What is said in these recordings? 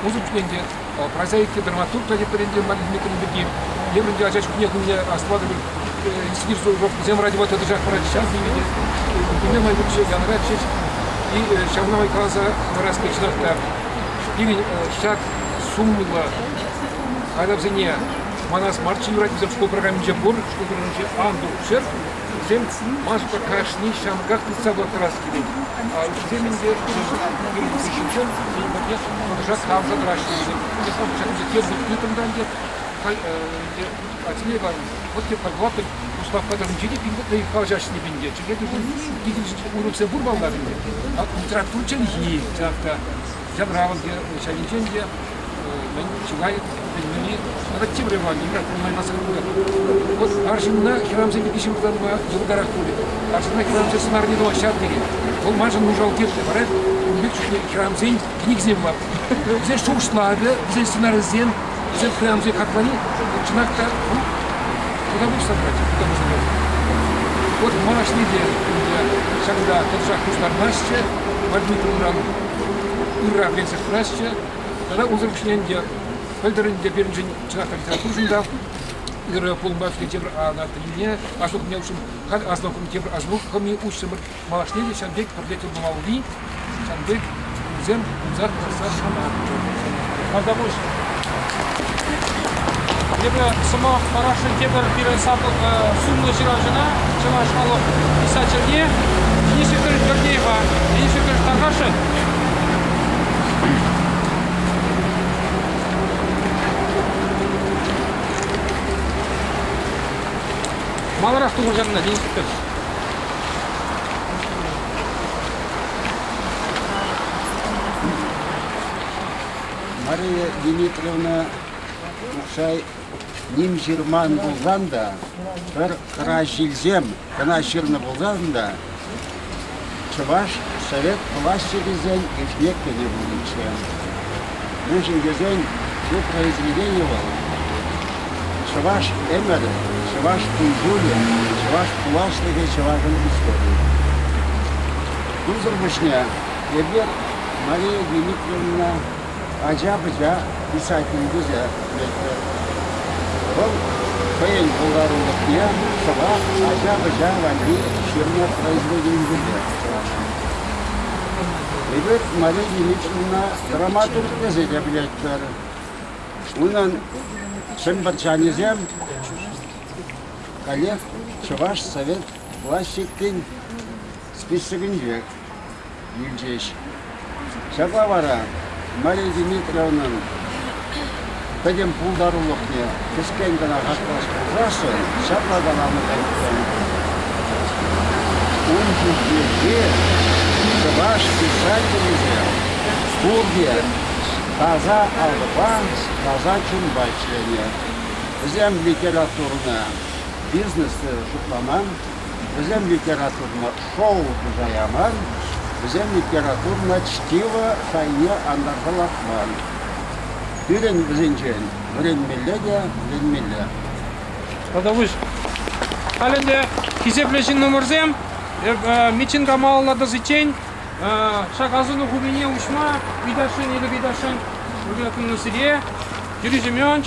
Пусӑм ӗнтӗ прозаики, драматург траекторийӗнче Марин Дмитриевна пирки, еврӗнче ача чухне хӑйне асӑнатӑп сидир сӑвӑпсем радиома тӑтӑшах парать, ҫав сивӗнет. Кунне май ҫеҫ янӑрать ҫеҫ. И ҫавна май каласа хӑварас пек чӑнах та пирӗн ҫак сумлӑ хайлавсене манас марччӗ юрать вӗсем шкул программинче пур шкул программинче ан тулччӑр вӗсем маска кашни ҫамрӑках тытса пӑхтарас килет вӗсем ӗнтӗ пирӗн хыҫҫӑн пирӗн патне тӑтӑшах тавӑрса тӑраҫҫӗ ҫакӑнча тепӗр тытӑм та ӗнтӗ хай ӗнтӗ Альсемей Иванович вот те подвлатный Густавпа тӑрӑнче те пин пӗлчӗ уроксем пур балга сенде. Литература чӗлхи, ҫав та янравӑн ҫайӗнчен те мӗн чылай пӗлмелли тепре бар нимрен пулмаймасӑр пулать. Вот арҫынна хӗрамсем пирки ҫыртанма йӑлтарах пулӗ. Арҫынна хӗрамсен сӑнарне тӑма ҫав тери. Вӑл маншӑн нушал кирлӗ. Вара ун пек чухне хӗрамсен кӗнекисем бар. Вӗсен шухӑшлавӗ, вӗсен сценарисем Эсир пуянлӑхе хаклани чӑнах та ну, куна пуҫса тӑрать тӑвӑсене. От малашне те ӗнтӗ ҫакӑнта тӑтӑшах пуҫтармаҫҫӗ, водитель унран ырра вӗренсе пырасчӗ. Тата унсӑр пуҫне ӗнтӗ пӗлтӗрӗн те пирӗншӗн чӑнах та литературӑшӑн та ырӑ пулӑма кӳнӗ тепӗр ана пӗлнине, аслӑ хӑйне уҫҫӑн, халь аслӑ хӑйне тепӗр аслӑ хӑми уҫҫӑмӑр. Малашне те ҫав пек пӗрле тӗл пулмалли ҫан пек кунсем пулса кӑтартса шанатпӑр. Малтапуҫ. Эпӗ сӑмах парасшӑн тепӗр пирӗн сумлӑ ҫыравҫӑна, чӑваш халӑх писательне Денис Игорь Гордеева. Денис Игорь тархасшӑн? Маларах тухӑҫанна, Денис Игорь. Мария Дмитриевна Ухсай ним ҫырман пулсан та, пӗр хӑра ҫилсем кӑна ҫырнӑ пулсан та, Чӑваш совет влаҫчикӗсен ӗҫне кӗнӗ пулнӑччӗ. Мӗншӗн тесен ҫу произведени вӑл чӑваш ӗмӗрӗ, чӑваш кун-ҫулӗ, чӑваш пуласлӑхӗ, чӑвашӑн историйӗ. Кунсӑр пуҫне эпир Мария Дмитриевна ача-пӑча писатель тесе лекрӗ. Вӑл хӑйӗн пултарулӑхне шӑпах ача-пӑча валли ҫырнӑ произведенисемпе шуратнӑ. Эпир Мария Дмитриевна драматург тесе те пӗлетпӗр. Унӑн чӗмпӗрчанӗсем коллег Чӑваш совет классикин списокӗнче илчӗҫ. Ҫапла вара Мария Дмитриевнӑн пӗтӗм пултарулӑхне кӗскен кӑна хаклас пулсассӑн ҫапла каланӑ та иккен. Ун ҫинчехи чӑваш писателӗсем пурте таса алӑпа, таса чунпа ӗҫленӗ. Вӗсем литературӑна, бизнессне шутламан, Вӗсем литературӑна шоу туса яман, вӗсем литературӑна чтиво шайне антарса лартман. Пирӗн вӗсенчен вӗренмелле те вӗренмелле. Тата пуҫ. Халь ӗнтӗ хисеплӗ ҫыннӑмӑрсем Митинга малаллатассиччен ҫак асӑну хулине уҫма ыйтасшӑн эпӗ ыйтасшӑн Юрий Акуновсене. Юрий Семенович,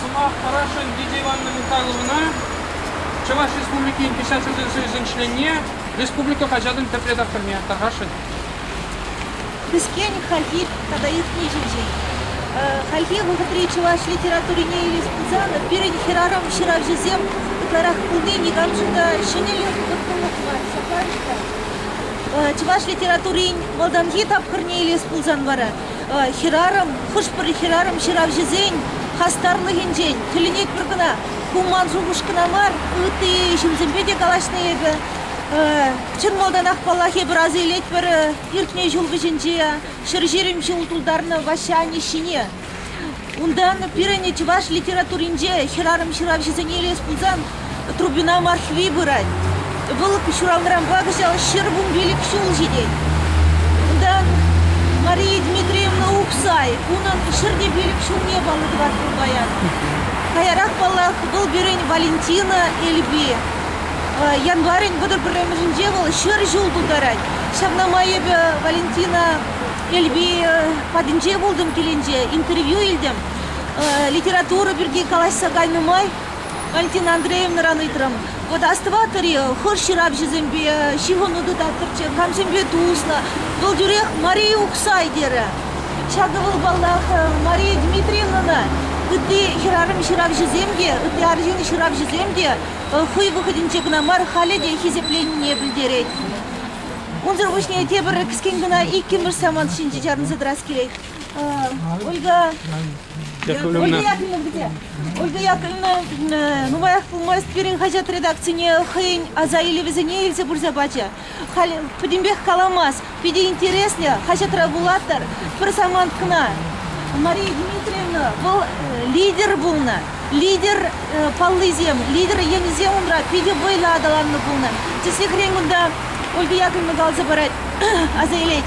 Сӑмах Парашин Лидия Ивановна Михайловна Чӑваш Республикин Печать хозяйствисен членне республика хаҫатӑн тӗп редакторне Тархасшӑн Кӗскен хальхи тата иртни ҫинчен. Хальхи вӑхӑтри чӑваш литературине илес пулсан пирӗн хӗрарӑм ҫыравҫӑсем ытларах пулни никамшӑн та ҫӗнӗлӗх, вӑрттӑнлӑх мар. Сахаль-и та? Чӑваш литературин малтанхи тапхӑрне илес пулсан вара хӗрарӑм, хӑш-пӗр хӗрарӑм ҫыравҫӑсен хастарлӑхӗнчен тӗлӗнетпӗр кӑна. Ку ман шухӑш кӑна мар, ытти ҫынсемпе те калаҫнӑ эпӗ. Чӑн малтанах, паллах, эпир аса илетпӗр иртнӗ ҫул вӗҫӗнче ҫӗр ҫирӗм ҫул тултарнӑ Ваҫҫа анне ҫине. Унтан пирӗн чӑваш литературинче хӗрарӑм ҫыравҫӑсене илес пулсан Трубина Мархви пырать. Вӑл ҫуралнӑранпа кӑҫал ҫӗр вун пилӗк ҫул ҫитет. Унтан Мария Дмитриевна Ухсай унӑн ҫӗр те пилӗк ҫулне паллӑ тӑвать пуль паян. Каярах, паллах, вӑл пирӗн Валентина Эльби. Январӗн вӑтӑр пӗрремӗшӗнче вӑл ҫӗр ҫул тултарать. Ҫавна май эпӗ Валентина Эльби патӗнче пултӑм килӗнче, интервью илтӗм. Литература пирки калаҫса кайнӑ май Валентина Андреевнӑран ыйтрӑм. Вот остыватӑр-и хӑш ҫыравҫӑсемпе ҫыхӑну тытаттӑрччӗ, камсемпе туслӑ? Вӑл тӳрех Мария Уксай терӗ. Ҫакӑ вӑл, паллах, Мария Дмитриевнӑна ытти хӗрарӑм ҫыравҫӑсем те, ытти арҫын ҫыравҫӑсем те хӑй вӑхӑтӗнче кӑна мар, халӗ те хисепленине пӗлтерет. Унсӑр пуҫне тепӗр кӗскен кӑна иккӗмӗш самант ҫинче чарӑнса тӑрас килет. Ольга, Ольга Яковлевна где? Ольга Яковлевна нумаях пулмасть пирӗн хаҫат редакцине хӑйӗн аса илӗвӗсене илсе пырса пачӗ. Халь пӗтӗмпех каламасть. Питӗ интереслӗ хаҫатра вулаттӑр пӗр самант кӑна. Мария Дмитриевна вӑл лидер пулнӑ. Лидер паллисем, лидер енӗсем унра питӗ вӑйлӑ аталаннӑ пулнӑ. Тӗслӗхрен кунта Ольга Яковлевна каласа парать, аса илет.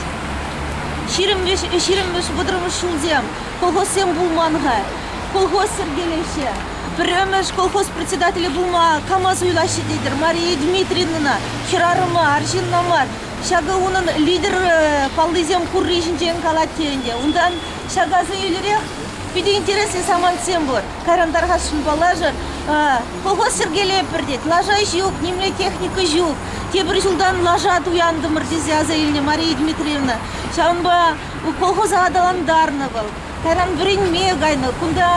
Ҫирӗммӗш, ҫирӗммӗш, вӑтӑрмӗш ҫулсем колхозсем пулман-ха. Колхоз йӗркелеҫҫӗ. Пӗрремӗш колхоз председателӗ пулма кама суйлаҫҫӗ тетӗр? Мария Дмитриевнӑна хӗрарӑма, арҫынна мар. Ҫакӑ унӑн лидер э, паллисем хурри ҫинчен калать те ӗнтӗ. Унтан ҫак асӑнӳлӗрех питӗ интереслӗ самантсем пур. Кайран тархасшӑн паллашӑр. Колхоз йӗркелеппӗр тет. Лаша ҫук, нимле техника ҫук. Тепӗр ҫултан лаша туянтӑмӑр тесе аса илнӗ Мария Дмитриевна. Ҫавӑнпа колхоза аталантарнӑ вӑл. Таран вӗренме кайнӑ. Кунта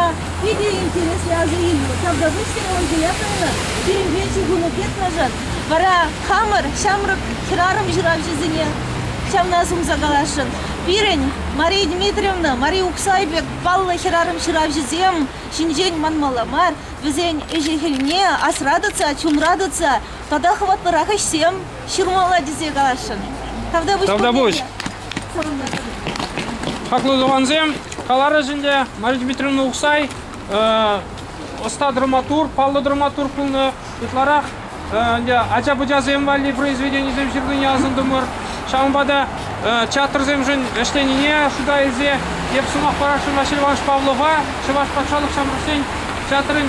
питӗ интереслӗ ача илнӗ. Ҫавна хыҫҫӑн Ангелия Павловна пирӗнпе ҫыхӑну петнашан. Вара хамӑр ҫамрӑк хӗрарӑм ҫыравҫӑсене ҫавна сунса каласшӑн. Пирӗн Мария Дмитриевна, Мария Ухсай пек паллӑ хӗрарӑм ҫыравҫӑсем ҫинчен манмалла мар. Вӗсен ӗҫӗ-хӗлне асра тытса, чунра тытса тата хӑватлӑрах ӗҫсем Ҫурмалла тесе каласшӑн. Тавтапуҫ. Тавтапуҫ. Хаклӑ тӑвансем, каларӑш ӗнтӗ Мария Дмитриевна Ухсай ӑста драматург, паллӑ драматург пулнӑ. Ытларах ӗнтӗ ача-пӑчасем валли произведенисем ҫырнине асӑнтӑмӑр. Ҫавӑнпа та театрсемшӗн ӗҫленине шута илсе эп сӑмах парасшӑн Василий Иванович Павлова Чӑваш патшалӑх ҫамрӑксен театрӗн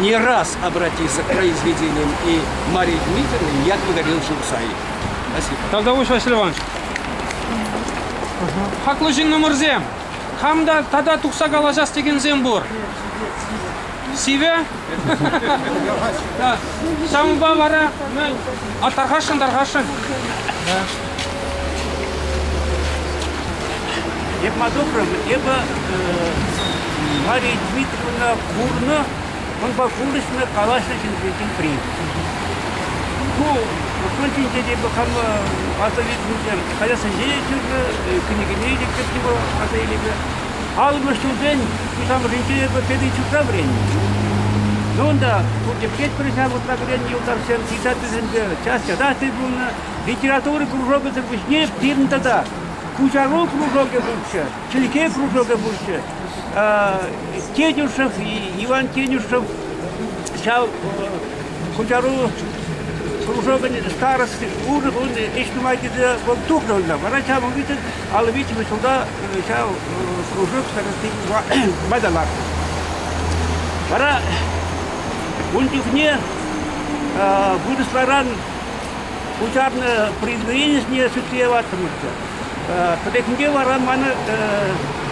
не раз обратиться к произведениям и Марии Дмитриевне я говорил Шурсай. Спасибо. Талдауш Васильевич. Хаклӑ ҫыннӑмӑрсем, хам та тата тухса калаҫас текенсем пур. Сиве? Ҫавӑнпа вара ну, а тархасшӑн, тархасшӑн. Эп ма добрым, эпӗ Мария Дмитриевна курнӑ, унпа курӑҫнӑ, калаҫнӑ ҫынсен при. Ку вӑхӑт ҫинче те хама аса илтӗмччӗ. Калассинче те чырнӑ, кӗнекене те кӗтнӗ вӑл аса илӗме. Аллӑмӗш ҫулсен пуҫламӑшӗнче эпӗ первый чурка вӗреннӗ. Ну унта пурте пӗлетпӗр ҫав, утла вӗреннӗ юлташсем, 50-семпе час ятаҫтӑй пулнӑ. Литература кружокӗсӗр пуҫне пирӗн тата пуҫару кружокӗ пурччӗ, чӗлхе кружокӗ пурччӗ. Тетюшев, Иван Тетюшев ҫав куҫару кружокӗн старости унӑн ун ӗҫ нумаййипе вӑл тухрӑннӑ. Вара ҫав виҫӗ алӑ виҫӗмӗш ҫулта ҫав кружок старости пайталатнӑ. Вара ун чухне вырӑсларан Пуҫарнӑ произведение сӳтсе яваттӑмӑрччӗ. Пӗррехинче вара мана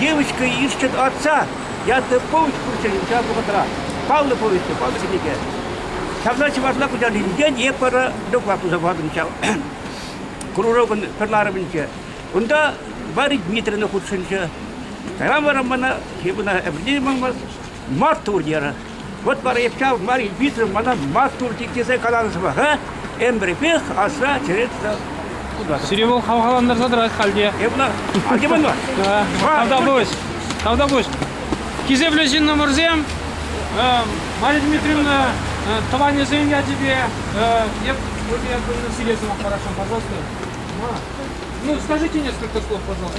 девочка ищет отца ятлӑ повесть пурччӗ ҫав вӑхӑтра. Паллӑ повесть паллӑ кӗнеке. Ҫавна чӑвашла куҫарни ҫинчен эп вара доклад туса патӑм ҫав кружокӑн пӗр ларӑвӗнче. Унта Варя Дмитриевна хутшӑнчӗ. Кайран вара мана, мана ӗмӗрне те манмасть, Март турнирӗ Вот пара ҫав Мария Ильпицина мана маттур тет тесе каланӑ сӑмах, а? Ӗмӗрпех асра черет Сире вӑл хавхалантарса тӑрать хальте. Эп ӑна антиман мар. Тавтапуҫ. Тавтапуҫ. Хисеплӗ ҫыннӑмӑрсем, Мария Дмитриевна тӑванӗсен ячӗпе эп тебе одно сире сӑмах хорошо, пожалуйста. Ну, скажите несколько слов, пожалуйста.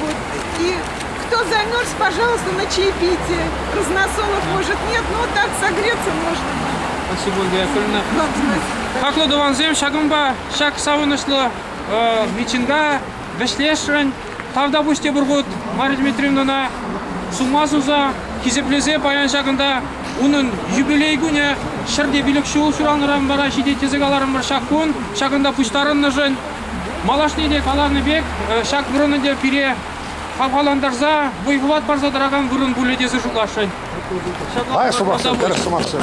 Вот такие. Кто замерз, пожалуйста, на чаепитие. Разносолов может нет, но так согреться можно будет. Спасибо, Андрей Хаклӑ тӑвансем, ҫакӑнпа ҫак савӑнӑҫлӑ митинга вӗҫлесшӗн. Тавта пуҫ те пур хут Мария Дмитриевнӑна сума суса, хисеплесе паян ҫакӑнта унӑн юбилей кунӗ. Ҫӗрте пилӗк ҫул ҫуралнӑран вара ҫитет тесе каларӑмӑр ҫак кун. Ҫакӑнта пуҫтарӑннӑшӑн Малашне те каланӑ пек, ҫак вырӑна те пире хавхалантарса, вӑй-хӑват парса тӑракан вырӑн пулӗ тесе шутласшӑн. Ай, шупашкар, тӗрӗс сӑмахсем.